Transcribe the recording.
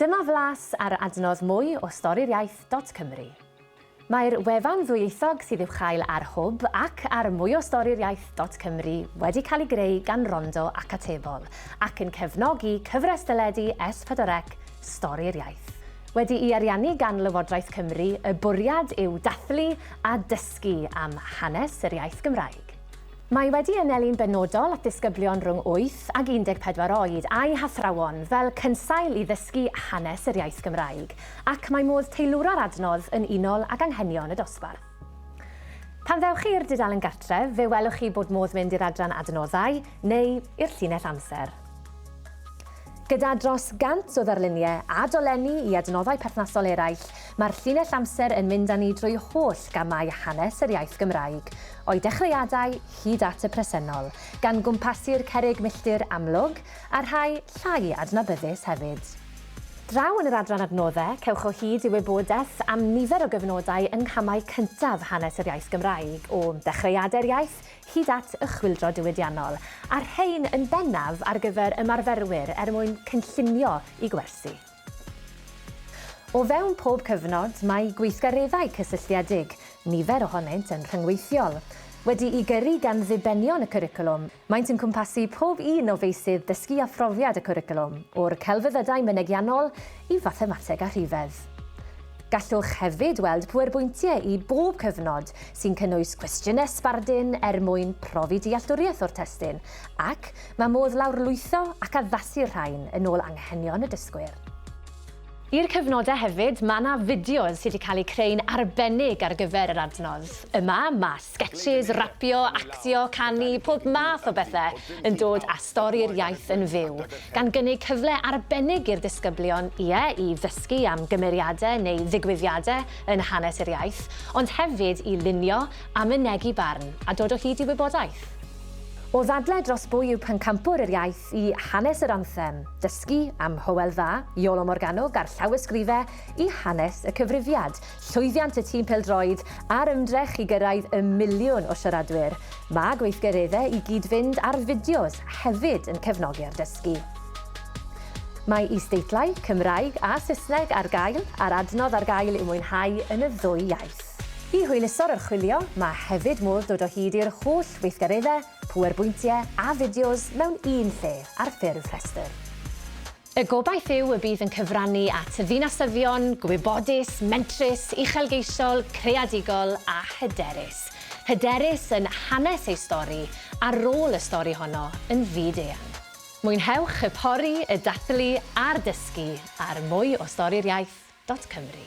Dyma flas ar adnodd mwy o Storïriaeth dot Cymru. Mae'r wefan ddwyieithog sydd i'w chael ar Hwb ac ar mwyostorïriaeth dot Cymru wedi cael ei greu gan Rondo ac Atebol ac yn cefnogi Cyfres Deledu S4C Storïriaeth. Wedi'i ariannu gan Lywodraeth Cymru, y bwriad yw dathlu a dysgu am hanes yr iaith Gymraeg. Mae wedi anelu'n benodol at ddisgyblion rhwng 8 ag 14 oed a'u hathrawon fel cynsail i ddysgu hanes yr iaith Gymraeg, ac mae modd teilwra'r adnodd yn unol ag anghenion y dosbarth. Pan ddewch chi i'r dudalen gartref, fe welwch chi bod modd mynd i'r adran Adnoddau neu i'r llinell Amser. Gyda dros 100 o ddarluniau a dolenni i adnoddau perthnasol eraill, mae'r llinell amser yn mynd â ni drwy holl gamau hanes yr iaith Gymraeg, o'i dechreuadau hyd at y presennol, gan gwmpasu'r cerrig milltir amlwg, a rhai llai adnabyddus hefyd. Draw yn yr adran Adnoddau, cewch o hyd i wybodaeth am nifer o gyfnodau yng nghamau cyntaf hanes yr iaith Gymraeg, o ddechreuadau'r iaith hyd at y Chwyldro Diwydiannol, a'r rhain yn bennaf ar gyfer ymarferwyr er mwyn cynllunio i gwersi. O fewn pob cyfnod, mae gweithgareddau cysylltiedig, nifer ohonynt yn rhyngweithiol, wedi'u gyrru gan ddibenion y cwricwlwm. Maent yn cwmpasu pob un o feysydd dysgu a phrofiad y cwricwlwm, o'r celfyddydau mynegiannol i fathemateg a rhifedd. Gallwch hefyd weld pwerbwyntiau i bob cyfnod, sy'n cynnwys cwestiynau sbardun er mwyn profi dealltwriaeth o'r testun, ac mae modd lawrlwytho ac addasu'r rhain yn ôl anghenion y dysgwyr. I'r cyfnodau hefyd, mae yna fideos sydd wedi cael eu creu'n arbennig ar gyfer yr adnodd. Yma, mae Sgetshis, rapio, actio, canu, pob math o bethe yn dod â stori'r iaith yn fyw, gan gynnig cyfle arbennig i'r disgyblion, ie, i ddysgu am gymeriade neu ddigwyddiade yn hanes yr iaith, ond hefyd i lunio a mynegi barn a dod o hyd i wybodaeth. O ddadle dros bwy yw pencampwr yr iaith i hanes yr anthem, dysgu am Hywel Dda, Iolo Morganwg a'r llawysgrife i hanes y cyfrifiad, Llwyddiant y tîm pêl-droed a'r ymdrech i gyrraedd y miliwn o siaradwyr. Mae gweithgareddau i gyd-fynd ar fideos hefyd yn cefnogi'r dysgu. Mae is-deitlau, Cymraeg a Saesneg, ar gael, a'r adnodd ar gael i'w mwynhau yn y ddwy iaith. I hwyluso'r archwilio, mae hefyd modd dod o hyd i'r holl weithgareddau, pŵerbwyntiau a fideos mewn un lle ar ffurf rhestr. Y gobaith yw y bydd yn cyfrannu at ddinasyddion gwybodus, mentrus, uchelgeisiol, creadigol a hyderus. Hyderus yn hanes ei stori a rôl y stori honno yn fyd-eang. Mwynhewch y pori, y dathlu a'r dysgu ar mwy o stori'r iaith dot cymru.